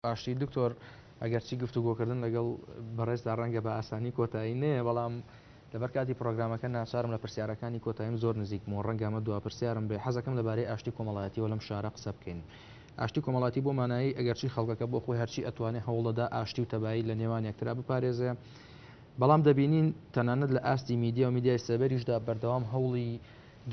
باشی دکتۆر ئەگەرچی گفتوگۆکردن لەگەڵ بەڕێزدا ڕەنگە بە ئاسانی کۆتایی نەیە بەڵام لەبەر کاتی پرۆگرامەکە ناچارم لە پرسیارەکانی کۆتاییم زۆر نزیک بمەوە ڕەنگە ئەمە دوا پرسیارم بێ حەزەکەم لەبارەی ئاشتی کۆمەڵایەتیەوە لەم شارە قسە بکەین ئاشتی کۆمەڵاتی بۆ مانایی ئەگەرچی خەڵکەکە بۆ خۆی هەرچی ئەتوانێ هەوڵەدا ئاشتی و تەبایی لە نێوان یەکترا بپارێزێ بەڵام دەبینین تەنانەت لە ئاستی میدیا و میدیای سەبەریشدا بەردەوام هەوڵی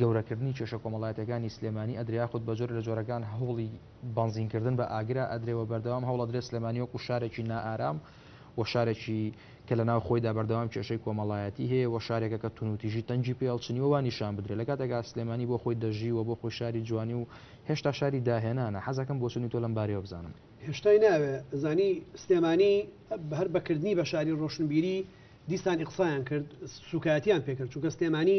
گەورەکردنی کێشە کۆمەڵایەتیەکانی سلێمانی ئەدرێ یاخود بەجۆرێ لە جۆرەکان هەوڵی بەنزین کردن بە ئاگرە ئەدرێ وە بەردەوام هەوڵ ئەدرێ سلێمانی وەکو شارێکی نائارام و شارێکی کە لە ناو خۆیدا بەردەوام کێشەی کۆمەڵایەتی هەیە وە شارێکە کە تونوتیژی تەنگی پێ هەڵچنی وە وا نیشان بدرێ لە کاتێکا سلێمانی بۆ خۆی دەژی وە بۆ خۆی شاری جوانی و هێشتا شاری داهێنانە حەزەکەم بۆچونی تۆ لەم بارەیەوە بزانم. هێشتای ناوێ زانی سلێمانی هەر بە کردنی بە شاری ڕۆشنبیری دیسان ئیقسایان کرد سوکایەتیان پێ کرد چونکە سلێمانی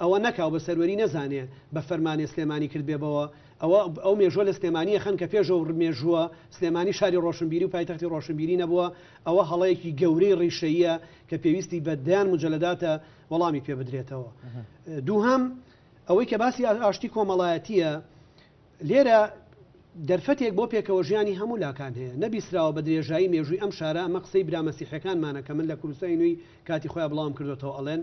ئەوە نەکا و بە سەروەری نەزانێ بە فەرمانێ سلێمانی کردبێبەوە، ئەوە ئەو مێژووە لە سلێمانی ئەخەن کە پێش ئەو مێژووە سلێمانی شاری ڕۆشنبیری و پایتەختی ڕۆشنبیری نەبووە، ئەوە هەڵەیەکی گەورەی ڕیشەییە کە پێویستی بە دەیان موجەلەداتە وەڵامی پێ بدرێتەوە. دووهەم، ئەوەی کە باسی ئاشتی کۆمەڵایەتییە، لێرە دەرفەتێک بۆ پێکەوەژیانی هەموو لاکان هەیە، نەبیسراوە بە درێژایی مێژووی ئەم شارە، ئەمە قسەی برا مەسیحییەکانمانە کە من لە کوردستانی نوێی کاتی خۆیان بڵاوم کردۆتەوە ئەڵێن،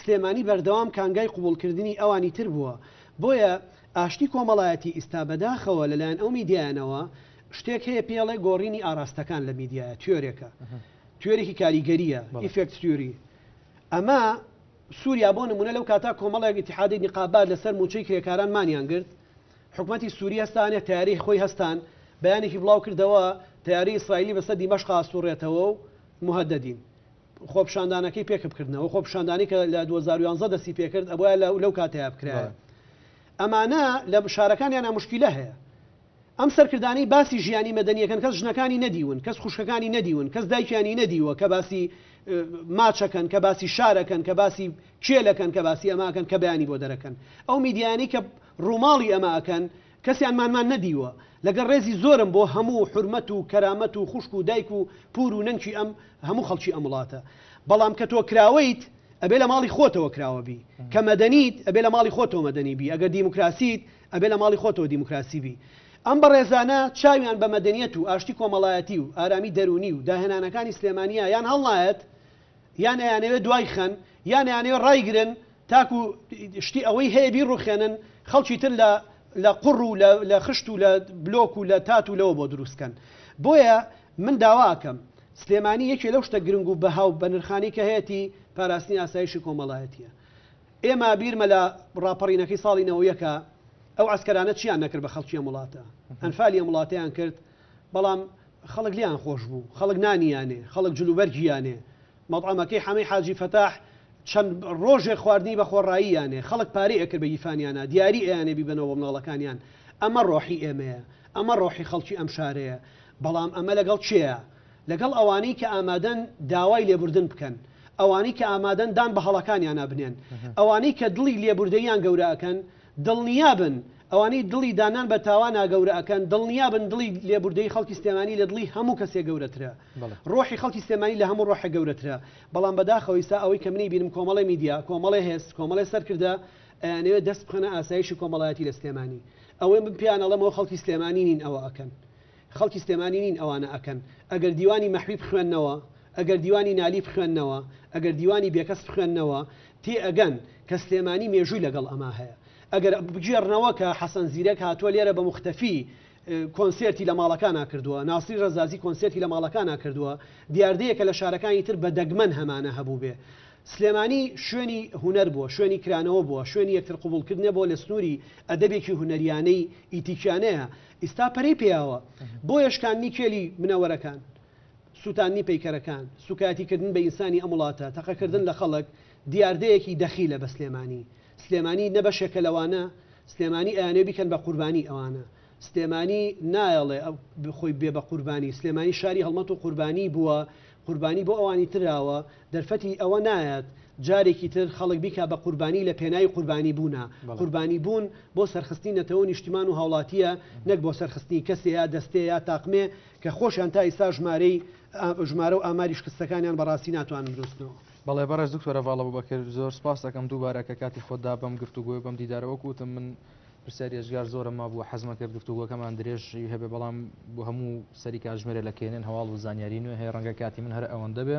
سلێمانی بەردەوام کانگای قبوڵکردنی ئەوانی تر بووە، بۆیە ئاشتی کۆمەڵایەتی ئیستا بەداخەوە لەلایەن ئەو میدیایەنەوە شتێک هەیە پێڵێ گۆڕینی ئاراستەکان لە میدیایە توێرێکە توێرێکی کاریگەریە ئیفێکت تیوری ئەمە سووریا بۆ نمونە لەو کاتا کۆمەڵێک اتحادی نقابات لەسەر موچەی کرێکاران مانیان گرت حکومەتی سووری هەستانە تیاری خۆی هەستان بەیانێکی بڵاو کردەوە تیاری ئیسرائیلی بەسەر دیمەشقا سوڕێتەوە و مهددین خۆپیشاندانەکەی پێکبکردنەوە، خۆپیشاندانی کە لە دوو هەزار و یازدە دەستی پێکرد ئەبوایە لە لەو کاتەیا بکرایە. ئەمانە لە شارەکانیانا موشکیلە هەیە. ئەم سەرکردانەی باسی ژیانی مەدەنی ئەکەن کەس ژنەکانی نەدیون، کەس خوشکەکانی نەدیون، کەس دایکیانی نەدیوە کە باسی ماچەکەن، کە باسی شارەکەن، کە باسی کێلەکەن، کە باسی ئەمە ئەکەن کە بەیانی بۆ دەرەکەن. ئەو میدیایانەی کە ڕووماڵی ئەمە ئەکەن، کەسیان مانمان نەدیوە. لەگەڵ ڕێزی زۆرم بۆ هەموو و حورمەت و کەرامەت و خوشک و دایک و پور و نەنکی ئەم هەموو خەڵکی ئەم وڵاتە. بەڵام کە تۆ کراوەیت ئەبێ لە ماڵی خۆتەوە کراوە بی. کە مەدەنیت ئەبێ لە ماڵی خۆتەوە مەدەنی بی. ئەگەر دیموکراسیت ئەبێ لە ماڵی خۆتەوە دیموکراسی بی. ئەم بەڕێزانە چاویان بە مەدەنیەت و ئاشتی کۆمەڵایەتی و ئارامی دەروونی و داهێنانەکانی سلێمانیە یان هەڵنایەت، یان ئەیانەوێ دوای خەن یان ئەیانەوێ ڕایگرن تاکو شتی ئەوەی هەیە بیڕوخێنن خەڵکی تر لە لە قوڕ و لە خشت و لە بلۆک و لە تات و لەوە بۆ دروست کەن بۆیە من داوا ئەکەم سلێمانی یەکێ لەو شتە گرنگ و بەها و بەنرخانی کە هەیەتی پاراستنی ئاسایشی کۆمەڵایەتیە ئێمە بیرمە لە ڕاپەڕینەکەی ساڵی نەوەیەکە ئەو عسکەرانە چیان نەکرد بە خەڵکی ئەم وڵاتە ئەنفالی ئەم وڵاتیان کرد بەڵام خەڵک لێیان خۆش بوو، خەڵک نانی یانێ، خەڵک جلوبەرگی یانێ، مەتعەمەکەی حەمەی حاجی فەتاح چەند ڕۆژێک خواردنی بە خۆڕایی یانێ، خەڵک پارەی ئەکرد بە گیفانیانا، دیاری ئەیانێ بیبەنەوە بۆ مناڵەکانیان، ئەمە ڕۆحی ئێمەیە، ئەمە ڕۆحی خەڵکی ئەم شارەیە، بەڵام ئەمە لەگەڵ کێیە؟ لەگەڵ ئەوانەی کە ئامادەن داوای لێبوردن بکەن، ئەوانەی کە ئامادەن دان بە هەڵەکانیانا بنێن، ئەوانەی کە دڵی لێبوردەییان گەورە ئەکەن، دڵنیابن ئەوانەی دڵی داننان بە تاوانا گەورە ئەکەن، دڵنیابن دڵی لێبوردەیی خەڵکی سلێمانی لە دڵی هەموو کەسێک گەورەترە. ڕۆحی خەڵکی سلێمانی لە هەموو ڕۆحێک گەورەترە. بەڵام بەداخەوە ئیستا ئەوەی کە من ئیبینم کۆمەڵێ میدیا، کۆمەڵێ هێز، کۆمەڵێ سەرکردە ئەیانەوێ دەست بخەنە ئاسایشی کۆمەڵایەتی لە سلێمانی. ئەوەی من پێیان ئەڵێم ئەوە خەڵکی سلێمانی نین ئەوە ئەکەن. خەڵکی سلێمانی نین ئەوانە ئەکەن ئەگەر دیوانی مەحوی بخوێننەوە ئەگەر دیوانی نالی بخوێننەوە ئەگەر دیوانی بێکەس بخوێننەوە تێ ئەگەن کە سلێمانی مێژووی لەگەڵ ئەمە هەیە ئەگەر بگێڕنەوە کە حەسەن زیرەک هاتووە لێرە بە مختەفی کۆنسرتی لە ماڵەکانە کردووە ناسری ڕزازی کۆنسرتی لە ماڵەکانە کردووە دیاردەیە کە لە شارەکانی تر بە دەگمەن هەمانە هەبوو بێ سلێمانی شوێنی هوەر بووە شوێنی کرانەوە بووە شوێنی یەکتر قوبولکردنە بۆ لە سنووری ئەدەبێکی هوەریانەی ئیتیکیانەیە ئیستا پەرەی پیاوە بۆیە شکاندنی کێلی منەوەرەکان، سوتاندنی پەیکەرەکان، سوکایەتی کردن بە ئینسانی ئەم وڵاتە، تەقە کردن لە خەڵک دیاردەیەکی دەخیلە بە سلێمانی. سلێمانی نە بەشێکە لەوانە، سلێمانی ئەیانەوێ بیکەن بە قوربانی ئەوانە. سلێمانی نایەڵێ خۆی بێ بە قوربانی، سلێمانی شاری هەڵمەت و قوربانی بووە قوربانی بۆ ئەوانی تراوە دەرفەتی ئەوە نایەت جارێکی تر خەڵک بیکا بە قوربانی لە پێناوی قوربانی بوونا، قوربانی بوون بۆ سەرخستنی نەتەوەو نیشتیمان و هاوڵاتیە نەک بۆ سەرخستنی کەسێ یا دەستێ یا تاقمێ کە خۆشیان تا ئیستا ژمارەی ژمارەو ئاماری شکستەکانیان بە ڕاستی ناتوانم بنوسنەوە. بەڵێ بەڕێز دکتۆر ڤاڵەبوبەکر زۆر سپاستەکەم دووبارە کە کاتی خۆت دا بەم گفتوگۆی و بەم دیدارە وەکو وتم من، پرسیاری ئێجگار زۆرە مابووە حەزمە کرد گفتوگۆکەمان درێژ هەبێ بەڵام بۆ هەموو سەری کاتژمێرە لە کێنێن هەواڵ و زانیاری نوێ هەیە ڕەنگە کاتی من هەر ئەوەندە بێ